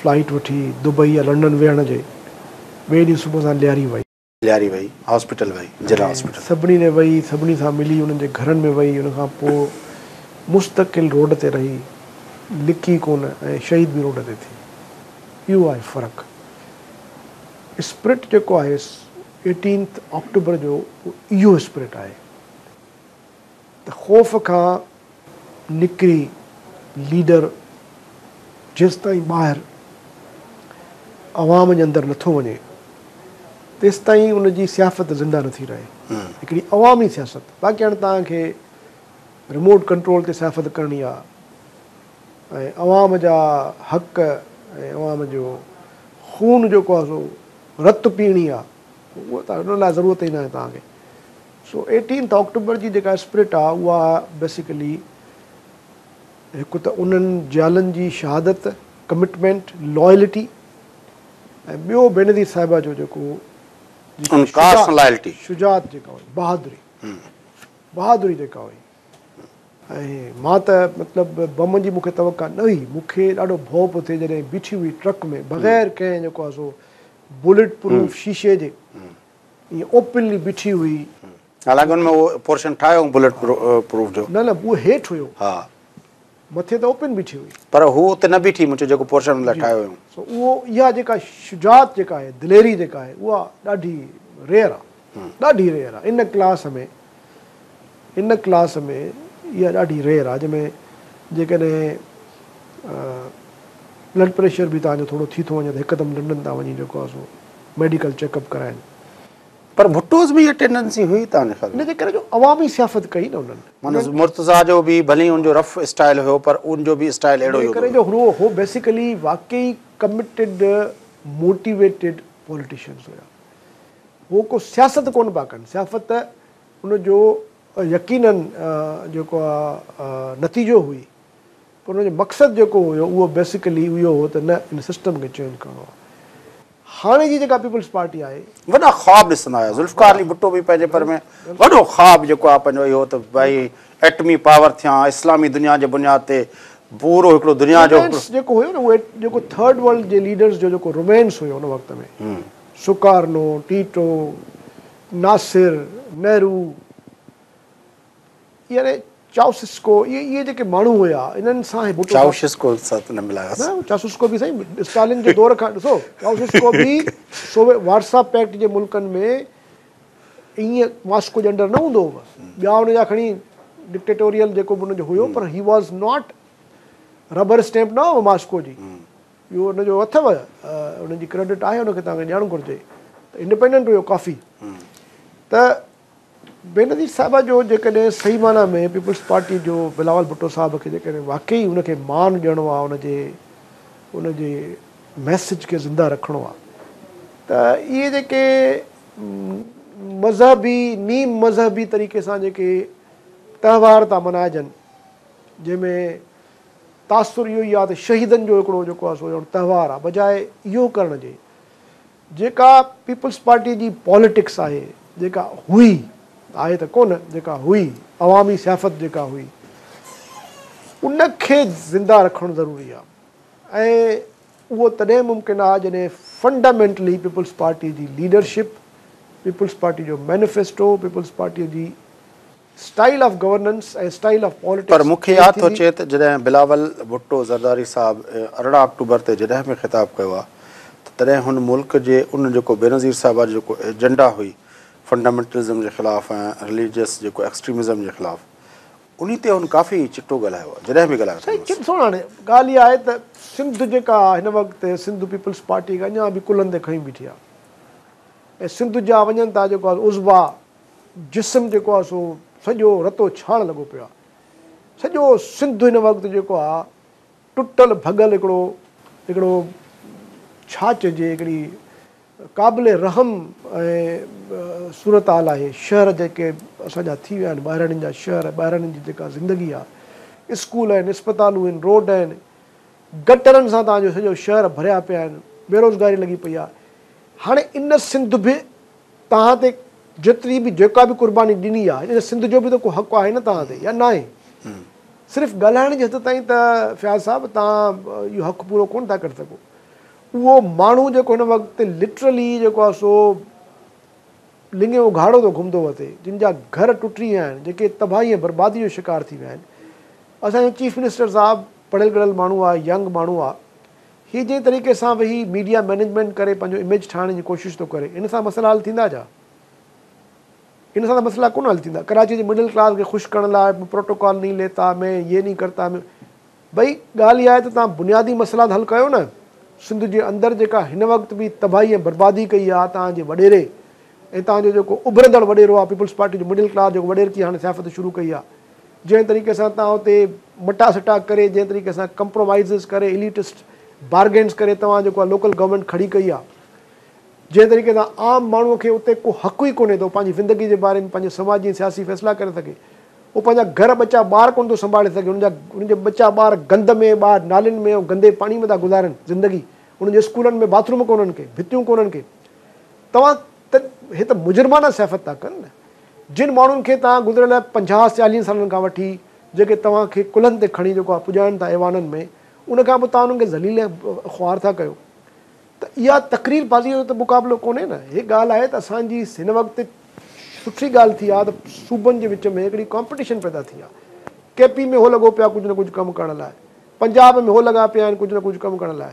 B: فلائيٽ وٺي دبئي يا لنڊن ويهڻ جي ٻئي ڏينهن صبح سان لياري وئي. لياري وئي، هاسپيٽل وئي،
A: ضلع هاسپيٽل. سڀني ڏي وئي، سڀني
B: سان ملي، انهن جي گهرن ۾ وئي، ان کان پوء مستقل روڊ تي رهي، لڪي ڪونه ۽ شهيد به روڊ تي ٿي. اهو آهي فرق. اسپرٽ جيڪو آهيس ايٽينٿ آڪٽوبر جو اهو اهو اسپرٽ آهي. ته خوف کان نڪري ليڊر جيستائين ٻاهر عوام جي اندر نٿو وڃي تيستائين ان جي سياست زنده نٿي رهي هڪڙي عوامي سياست باقي هاڻي توهان کي ريموٽ ڪنٽرول تي سياست ڪرڻي آهي ۽ عوام جا حق ۽ عوام جو خون جيڪو آهي سو رت پيئڻي آهي ان لاء ضرورت ئي ناهي توهان کي سو ايٽينٿ آڪٽوبر جي جيڪا اسپرٽ آ اها بيسيڪلي هڪ ته انهن جيالن جي شهادت، ڪمٽمينٽ، لائلٽي ۽ ٻيو بينظير صاحبه جو جيڪو جيڪي شجاعت جيڪا هئي بهادري بهادري جيڪا هئي ۽ مان ته مطلب بم جي مونکي توقع نه هئي مونکي ڏاڍو ڀؤ پيو ٿئي جڏهن بيٺي هئي ٽرڪ ۾ بغير ڪنهن جيڪو آ سو بلٽ پروف شيشي جي ائين اوپنلي بيٺي هئي. حالانڪ ان ۾
A: اهو پورشن ٺاهيو هئون بلٽ پروف جو. نه نه اهو هيٺ هيو.
B: ها. مٿي ته اوپن بيٺي هئي. پر هو اتي نه بيٺي مون چيو
A: جيڪو پورشن ان لاء ٺاهيو هيون. سو اهو اها جيڪا
B: شجاعت جيڪا آهي دليري جيڪا آهي اها ڏاڍي ريئر آهي. ڏاڍي ريئر آهي ان ڪلاس ۾. ان ڪلاس ۾ اها ڏاڍي ريئر آهي جنهن ۾ جيڪڏهن بلڊ پريشر به توهان جو ٿورو ٿي ٿو وڃي ته هڪدم ٽنڊن تان وڃي جيڪو آهي سو ميڊيڪل چيڪ اپ ڪرائين. پر
A: ڀٽوز ۾ اها ٽينڊنسي هئي ڪانه خير. ان جي ڪري جو عوامي سياست
B: ڪئي نه انهن. معنيٰ مرتضيٰ
A: جو به ڀلي ان جو رف اسٽائيل هيو پر ان جو به اسٽائيل اهڙو ئي هوندو هيو. ان جي ڪري جو هو بيسيڪلي
B: واقعي ڪمٽيڊ موٽيويٽيڊ پوليٽيشنز هيا. هو ڪو سياست ڪونه پيا ڪن، سيافت ته ان جو يقيناً جيڪو آ نتيجو هئي پر ان جو مقصد جيڪو هيو اهو بيسيڪلي اهو هو ته نه ان سسٽم کي چينج ڪرڻو آ. هاڻي جي جيڪا پيپلز پارٽي آهي. وڏا خواب ڏسندا
A: هيا، ذوالفقار علي ڀٽو به پنهنجي پر ۾ وڏو خواب جيڪو آ پنهنجو اهو ته ڀائي ايٽمي پاور ٿيان، اسلامي دنيا جي بنياد تي پورو هڪڙو دنيا جو هڪڙو. رومانس جيڪو هيو نه اهو
B: جيڪو ٿرڊ ورلڊ جي ليڊرز جو جيڪو رومانس هيو ان وقت ۾ سڪارنو، ٽيٽو، ناصر، نهرو يعني چائوسسڪو اهي اهي جيڪي ماڻهو هيا انهن سان هي ڀٽو صاحب چائوشسڪو سان
A: ته نه ملايو نه اسان چائوسسڪو به سائين
B: اسٽالن جي دور کان ڏسو چائوسسڪو به سوويت وارسا پيڪٽ جي ملڪن ۾ ائين ماسڪو جي انڊر نه هوندو هو ٻيا ان جا کڻي ڊڪٽيٽوريل جيڪو به ان جو هيو پر he was not rubber stamp نه هو ماسڪو جي اهو ان جو اٿو ان جي ڪريڊٽ آهي ان کي توهان کي ڏيڻ گهرجي ته انڊيپينڊنٽ هيو ڪافي ته بينظير صاحبه جو جيڪڏهن صحيح معنيٰ ۾ پيپلز پارٽي جو بلاول ڀٽو صاحب کي جيڪڏهن واقعي ان کي مان ڏيڻو آهي ان جي ان جي ميسج کي زنده رکڻو آهي ته اهي جيڪي مذهبي نيم مذهبي طريقي سان جيڪي تهوار ٿا ملهائجن جنهن ۾ تاثر اهو ئي آهي ته شهيدن جو هڪڙو جيڪو آهي سو تهوار آهي بجاء اهو ڪرڻ جي جيڪا پيپلز پارٽي جي پاليٽڪس آهي جيڪا هئي آهي ته ڪونه جيڪا هئي عوامي سيافت جيڪا هئي ان کي زنده رکڻ ضروري آهي ۽ اهو تڏهن ممڪن آهي جڏهن فنڊامينٽلي پيپلز پارٽي جي ليڊرشپ پيپلز پارٽي جو مينيفيسٽو پيپلز پارٽي جي style of governance ۽ style of politics پر مون کي چينج ياد ٿو ٿيندي. اچي
A: ته جڏهن بلاول ڀٽو زرداري صاحب ارڙهن آڪٽوبر تي جڏهن به خطاب ڪيو آ ته تڏهن هن ملڪ جي ان جيڪو بينظير صاحبه جو جيڪو ايجنڊا هئي فنڊامينٽلزم جي خلاف ۽ رليجيس جيڪو ايڪسٽريمزم جي خلاف انهي تي هن ڪافي چٽو ڳالهايو آ جڏهن به ڳالهايو سائين اٿم چٽ سوڻ هاڻي
B: ڳالهه اها آهي ته سنڌ جيڪا آ هن وقت سنڌ پيپلز پارٽي کي اڃان به ڪلهن تي کنيون بيٺي آ ۽ سنڌ جا وڃن ٿا جيڪو آ عضوا جسم جيڪو آ سو سڄو رتو ڇاڻ لڳو پيو آ. سڄو سنڌ هن وقت جيڪو آ ٽٽل ڀڳل هڪڙو هڪڙو ڇا چئجي هڪڙي قابل رحم ۽ صورتحال آهي. شهر جيڪي اسان جا ٿي ويا آهن ٻاهراڙين جا شهر ٻاهراڙين جي جيڪا زندگي آ اسڪول آهن اسپتالون هن روڊ آهن گٽرن سان توهان جو سڄو شهر ڀريا پيا آهن بيروزگاري لڳي پئي آ هاڻي ان سنڌ به توهان تي جيتري به جيڪا به قرباني ڏني آهي ان سنڌ جو به ته ڪو حق آهي نه توهان تي يا ناهي صرف ڳالهائڻ جي حد تائين ته فياض صاحب توهان اهو حق پورو ڪونه ٿا ڪري سگهو اهو ماڻهو جيڪو هن وقت لٽرلي جيڪو آهي سو لنگهي اگهاڙو ٿو گهمندو وتي جن جا گهر ٽٽي ويا آهن جيڪي تباهي ۽ بربادي جو شڪار ٿي ويا آهن اسانجو چيف منسٽر صاحب پڙهيل ڳڙهيل ماڻهو آهي ينگ ماڻهو آهي هي جنهن طريقي سان ويهي ميڊيا مئنيجمينٽ ڪري پنهنجو اميج ٺاهڻ جي ڪوشش ٿو ڪري ان سان مسئلا حل ٿيندا ڇا؟ ان سان ته مسئلا ڪونه حل ٿيندا. ڪراچيء جي مڊل ڪلاس کي خوش ڪرڻ لاء پروٽوڪول نهين ليتا مين يي نهين ڪرتا مين ڀئي ڳالهه اها آهي ته توهان بنيادي مسئلا ته حل ڪيو نه سنڌ جي اندر جيڪا هن وقت به تباهي ۽ بربادي ڪئي آهي توهان جي وڏيري ۽ توهان جو جيڪو اڀرندڙ وڏيرو آهي پيپلز پارٽي جو مڊل ڪلاس جيڪو وڏيرڪي هاڻي سياست شروع ڪئي آهي جنهن طريقي سان توهان اتي مٽا سٽا ڪري جنهن طريقي سان ڪمپرومائيزز ڪري اليٽسٽ بارگينز ڪري توهان جيڪو آ لوڪل گورنمينٽ کڙي ڪئي آ جنهن طريقي سان عام ماڻهو کي اتي ڪو حق ئي ڪونهي ته هو پنهنجي زندگي جي باري ۾ پنهنجي سماجي ۽ سياسي فيصلا ڪري سگهي هو پنهنجا گهر ٻچا ٻار ڪونه ٿو سنڀالي سگهي هن جا هن جا ٻچا ٻار گند ۾ ٻاهر نالين ۾ ۽ گندي پاڻي ۾ ٿا گذارن زندگي هن جي اسڪولن ۾ باٿروم ڪونهن ڪي ڀتيون ڪونهن ڪي توهان ته هي ته مجرمانه سياست ٿا ڪن نه. جن ماڻهن کي توهان گذريل پنجاهه چاليهن سالن کان وٺي جيڪي توهان کي ڪلهن تي کڻي جيڪو آهي پڄائين ٿا ايوانن ۾ ان کان پوء توهان انهن کي ذليل ۽ خوار ٿا ڪيو ته اها تقرير بازيء جو ته مقابلو ڪونهي نه. هي ڳالهه آهي ته اسان جي هن وقت سٺي ڳالهه ٿي آهي ته صوبن جي وچ ۾ هڪڙي ڪامپٽيشن پيدا ٿي آهي. ڪي پي ۾ هو لڳو پيو آهي ڪجهه نه ڪجهه ڪم ڪرڻ لاء. پنجاب ۾ هو لڳا پيا آهن ڪجهه نه ڪجهه ڪم ڪرڻ لاء.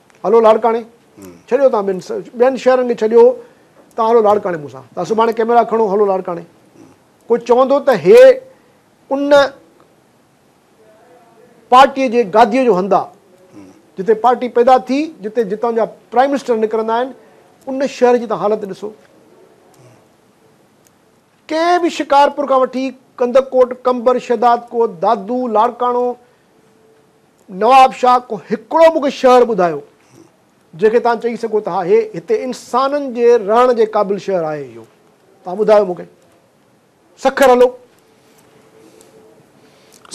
B: هلو لاڙڪاڻي ڇڏيو تان ٻين ٻين شهرن کي ڇڏيو تان هلو لاڙڪاڻي مون سان تان سڀاڻي ڪيميرا کڻو هلو لاڙڪاڻي ڪو چوندو ته هي ان پارٽي جي گادي جو هندا جتي پارٽي پيدا ٿي جتي جتان جا پرائم منسٽر نڪرندا آهن ان شهر جي تان حالت ڏسو ڪنهن به شڪارپور کان وٺي ڪندڪوٽ ڪمبر شهداد ڪوت دادو لاڙڪاڻو نواب شاهه ڪو هڪڙو مونکي شهر ٻڌايو جنهن کي توهان چئي سگهو ته ها هي هتي انسانن جي رهڻ جي قابل شهر آهي اهو توهان ٻڌايو مونکي سکر هلو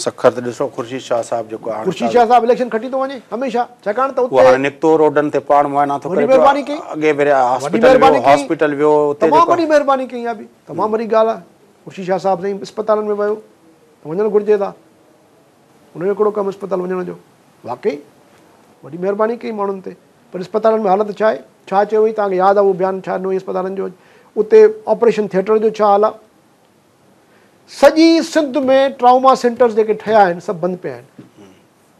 A: سکر ته ڏسو خورشيد شاهه صاحب جيڪو آهي خورشيد شاهه صاحب اليڪشن کٽي
B: ٿو وڃي هميشه ڇاڪاڻ ته اتي هاڻي نڪتو روڊن
A: تي پاڻ معائنا ٿو ڪري مهرباني ڪئي اڳي ڀيري
B: هاسپيٽل
A: ويو هاسپيٽل ويو اتي تمام وڏي مهرباني
B: ڪئي آ به تمام وڏي ڳالهه آ خورشيد شاهه صاحب سائين اسپتالن ۾ ويو ته وڃڻ گهرجي ٿا انهن جو ڪهڙو ڪم اسپتال وڃڻ جو؟ واقعي؟ وڏي مهرباني ڪئي ماڻهن تي. پر اسپتالن ۾ حالت ڇا آهي؟ ڇا چيو هئين؟ توهان کي ياد آهي اهو بيان ڇا ڏنو هئين اسپتالن جو؟ اتي آپريشن ٿيٽر جو ڇا حال آهي؟ سڄي سنڌ ۾ ٽراما سينٽرز جيڪي ٺهيا آهن سڀ بند پيا آهن.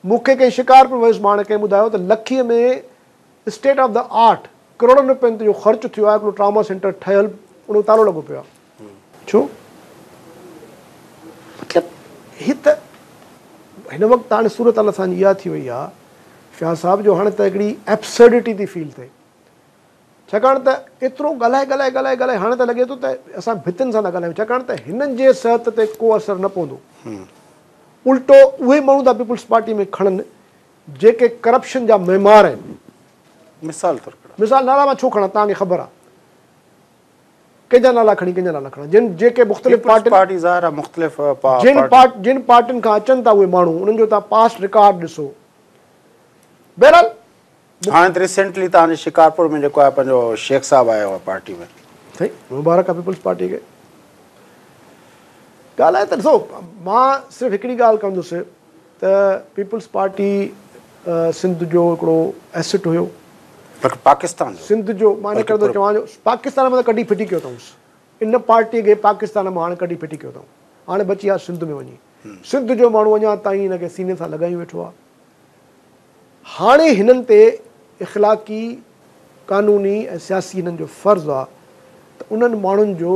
B: مون کي ڪنهن شڪارپور ويس ماڻهه ڪنهن ٻڌايو ته لکيء ۾ اسٽيٽ آف دي آرٽ ڪروڙن روپين جو خرچ ٿيو آهي هڪڙو ٽراما سينٽر ٺهيل ان جو تالو لڳو پيو آهي. ڇو؟ مطلب هي ته هن وقت هاڻي صورتحال اسان جي اها ٿي وئي آهي فياض صاحب جو هاڻي ته هڪڙي Absurdity ٿي فيل ٿئي ڇاڪاڻ ته ايترو ڳالهائي ڳالهائي ڳالهائي ڳالهائي هاڻي ته لڳي ٿو ته اسان ڀتين سان ٿا ڳالهايون ڇاڪاڻ ته هنن جي صحت تي ڪو اثر نه پوندو الٽو اهي ماڻهو ٿا پيپلز پارٽي ۾ کڻن جيڪي ڪرپشن جا معمار آهن مثال طور ڪهڙا مثال نالا مان ڇو کڻان تهان کي خبر آهي ڪنهن جا نالا کڻي ڪنهن جا نالا کڻان جن جيڪي مختلف پيپلز پارٽين پارٽي ظاهر آهي مختلف پا جن پارٽي پارٽ جن پارٽين کان اچن ٿا اهي ماڻهو انهن جو تان پاسٽ رڪارڊ ڏسو بهرحال
A: هاڻي ته ريسينٽلي تان جي شڪارپور ۾ جيڪو آهي پنهنجو شيخ صاحب آيو آهي پارٽي ۾ سائين مبارڪ
B: آهي پيپلز پارٽي کي ڳالهه آهي ته ڏسو مان صرف هڪڙي ڳالهه ڪندس ته پيپلز پارٽي سنڌ جو هڪڙو ايسٽ هيو. پر پاڪستان
A: جو. سنڌ جو مان
B: ان ڪري ٿو چوان جو پاڪستان مان ته ڪڍي ڦٽي ڪيو اٿئونس. ان پارٽي کي پاڪستان مان هاڻ ڪڍي ڦٽي ڪيو اٿئون. هاڻ بچي آ سنڌ ۾ وڃي. سنڌ جو ماڻهو اڃا تائين هن کي سيني سان لڳايون ويٺو آ. هاڻي هنن تي اخلاقي، قانوني ۽ سياسي هنن جو فرض آ ته انهن ماڻهن جو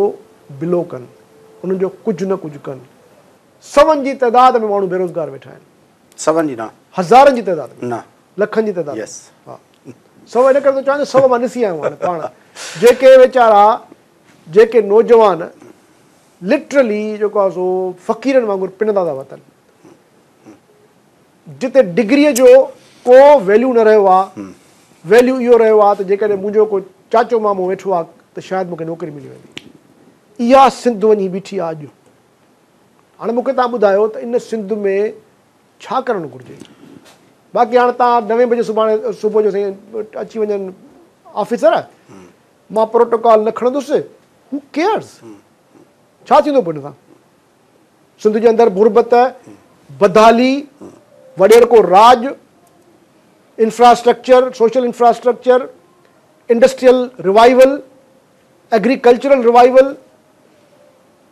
B: بلو ڪن. انهن جو ڪجهه نه ڪجهه ڪن. سون جي تعداد ۾ ماڻهو بيروزگار ويٺا آهن. سون جي نه.
A: هزارن جي تعداد ۾.
B: نه. لکن جي تعداد ۾. ها.
A: سو ان
B: ڪري ٿو چوان جو سو مان ڏسي آيو آهيان پاڻ جيڪي ويچارا جيڪي نوجوان لٽرلي جيڪو آهي سو فقيرن وانگر پنندا ٿا وتن جتي ڊگري جو ڪو ويليو نه رهيو آهي ويليو اهو رهيو آهي ته جيڪڏهن منهنجو ڪو چاچو مامو ويٺو آهي ته شايد مونکي نوڪري ملي ويندي اها سنڌ وڃي بيٺي آهي اڄ هاڻي مون کي توهان ٻڌايو ته ان سنڌ ۾ ڇا ڪرڻ گهرجي؟ باقي هاڻي توهان نوين بجي سڀاڻي صبح جو سائين اچي وڃن آفيسر مان پروٽوڪال نه کڻندس هو ڪيئرز ڇا ٿيندو پوء ان سان؟ سنڌ جي اندر غربت بدحالي وڏيرڪو راڄ infrastructure social infrastructure industrial revival agricultural revival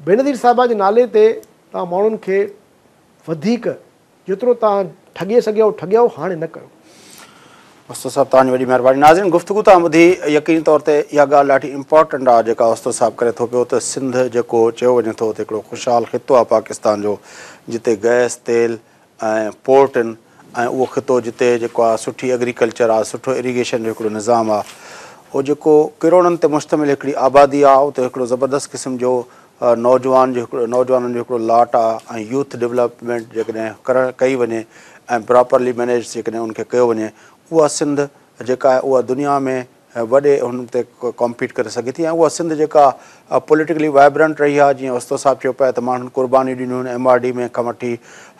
B: Benazir صاحبه جي نالي تي توهان ماڻهن کي وڌيڪ جيترو توهان ٺڳي سگهيو ٺڳيو هاڻي نه ڪيو. استاد
A: صاحب توهان جي وڏي مهرباني. ناظرين گفتگو توهان ٻڌي يقيني طور تي اها ڳالهه ڏاڍي امپارٽنٽ آ جيڪا استاد صاحب ڪري ٿو پيو ته سنڌ جيڪو چيو وڃي ٿو ته هڪڙو خوشحال خطو آ پاڪستان جو جتي گئس تيل ۽ پورٽ آهن ۽ اهو خطو جتي جيڪو آهي سٺي ايگريڪلچر آهي سٺو ايريگيشن جو هڪڙو نظام آهي اهو جيڪو ڪروڙن تي مشتمل هڪڙي آبادي آهي اتي هڪڙو زبردست قسم جو نوجوان جو هڪڙو نوجوانن جو هڪڙو لاٽ آهي ۽ يوٿ ڊولپمينٽ جيڪڏهن ڪرڻ ڪئي وڃي ۽ پراپرلي مينيج جيڪڏهن ان کي ڪيو وڃي اها سنڌ جيڪا آهي اها دنيا ۾ وڏي هن تي ڪمپيٽ ڪري سگهي ٿي ۽ اها سنڌ جيڪا پوليٽيڪلي وائبرنٽ رهي آهي جيئن اوستو صاحب چيو پيا ته ماڻهن قربانيون ڏنيون آهن ايم آر ڊي ۾ کان وٺي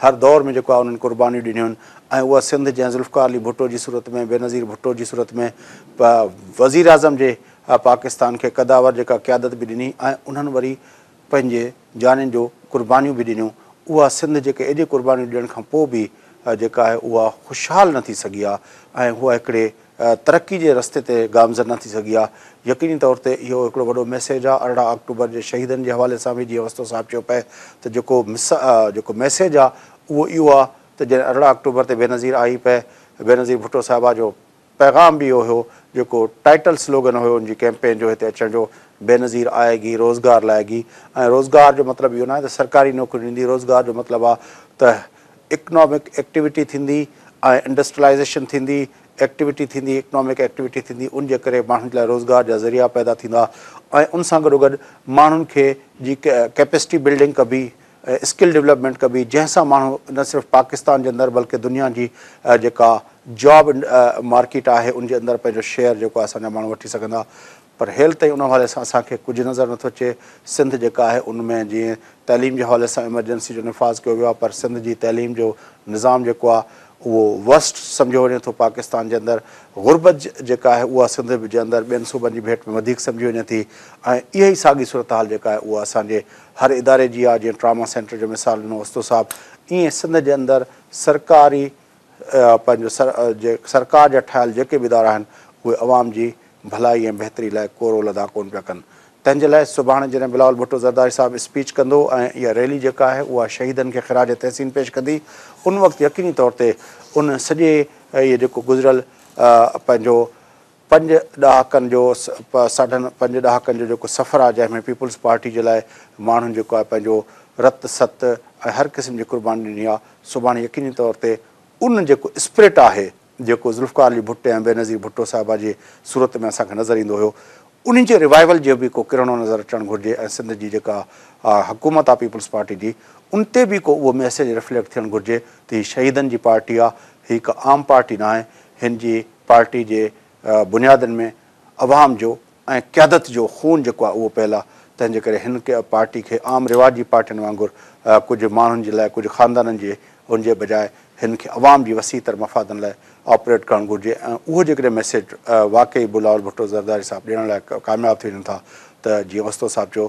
A: هر دور ۾ جيڪو آهي انهن قربانيون ڏنيون آهن ۽ اها سنڌ جنهن ذوالفقار علي ڀٽو جي صورت ۾ بينظير ڀٽو جي صورت ۾ وزيراعظم جي پاڪستان کي قداور جيڪا قيادت به ڏني ۽ انهن وري پنهنجي جانين جو قربانيون به ڏنيون اها سنڌ جيڪا ايڏي قربانيون ڏيڻ کان پوء به جيڪا آهي اها خوشحال نه ٿي سگهي آهي ۽ اها هڪڙي ترقي جي رستي تي گامزن نه ٿي سگهي آهي يقيني طور تي اهو هڪڙو وڏو ميسيج آهي ارڙهن آڪٽوبر جي شهيدن جي حوالي سان به جيئن اوستو صاحب چيو پئي ته جيڪو جيڪو ميسيج آهي اهو اهو آهي ته جڏهن ارڙهن آڪٽوبر تي بينظير آئي پئي بينظير ڀٽو صاحبه جو پيغام به اهو هيو جيڪو ٽائيٽل سلوگن هيو ان جي ڪيمپين جو هتي اچڻ جو بينظير آئي گي روزگار لائي گي ۽ روزگار جو مطلب اهو ناهي ته سرڪاري نوڪريون ڏيندي روزگار جو مطلب آهي ته اڪنامڪ ايڪٽيوٽي ٿيندي ۽ انڊسٽرلائيزيشن ٿيندي ايڪٽيوٽي ٿيندي اڪنامڪ ايڪٽيوٽي ٿيندي ان جي ڪري ماڻهن جي لاء روزگار جا ذريعا پيدا ٿيندا ۽ ان سان گڏوگڏ ماڻهن کي جي ڪيپسٽي بلڊنگ ڪبي ۽ اسڪل ڊولپمينٽ ڪبي جنهن سان ماڻهو نه صرف پاڪستان جي اندر بلڪه دنيا جي جيڪا جاب مارڪيٽ آهي ان جي اندر پنهنجو شيئر جيڪو آهي اسان جا ماڻهو وٺي سگهندا پر هيل تائين ان حوالي سان اسان کي ڪجهه نظر نٿو اچي سنڌ جيڪا آهي ان ۾ جيئن تعليم جي حوالي سان ايمرجنسي جو نفاذ ڪيو ويو آهي پر سنڌ جي تعليم جو نظام جيڪو آهي اهو ورسٽ سمجهيو وڃي ٿو پاڪستان جي اندر غربت جيڪا آهي اها سنڌ جي اندر ٻين صوبن جي ڀيٽ ۾ وڌيڪ سمجهي وڃي ٿي ۽ اها ئي ساڳي صورتحال جيڪا آهي اها اسان جي هر اداري جي آ جيئن ٽراما سينٽر جو مثال ڏنو استو صاحب ايئن سنڌ جي اندر سرڪاري پنهنجو سرڪار جا ٺاهيل جيڪي به ادارا آهن اهي عوام جي ڀلائي ۽ بهتري لاء ڪو رول ادا ڪون پيا ڪن تنهن جي لاء سڀاڻي جڏهن بلاول ڀٽو زرداري صاحب اسپيچ ڪندو ۽ اها ريلي جيڪا آهي اها شهيدن کي خراج تحسين پيش ڪندي ان وقت يقيني طور تي ان سڄي اهي جيڪو گذريل پنهنجو پنج ڏهاڪن جو ساڍن پنج ڏهاڪن جو جيڪو سفر آهي جنهن ۾ پيپلز پارٽي جي لاء ماڻهن جيڪو آهي پنهنجو رت ست ۽ هر قسم جي قرباني ڏني آهي سڀاڻي يقيني طور تي ان جيڪو اسپرٽ آهي جيڪو ذوالفقار علي ڀٽي ۽ بينظير ڀٽو صاحبه جي صورت ۾ اسان کي نظر ايندو هيو انهي جي ريوائيول جي به ڪو ڪرڻو نظر اچڻ گهرجي ۽ سنڌ جي جيڪا حڪومت آهي پيپلز پارٽي جي ان تي به ڪو اهو ميسيج ريفليڪٽ ٿيڻ گهرجي ته هي شهيدن جي پارٽي آهي هي ڪا عام پارٽي ناهي هن جي پارٽي جي بنيادن ۾ عوام جو ۽ قيادت جو خون جيڪو آهي اهو پيل آهي، تنهن جي ڪري هن پارٽي کي عام رواجي پارٽين وانگر ڪجهه ماڻهن جي لاء ڪجهه خاندانن جي ان جي بجاء هن کي عوام جي وسيع تر مفادن لاء آپريٽ ڪرڻ گهرجي ۽ اهو جيڪڏهن ميسيج واقعي بلاول ڀٽو زرداري صاحب ڏيڻ لاء ڪامياب ٿي وڃن ٿا ته جيئن اوستو صاحب چيو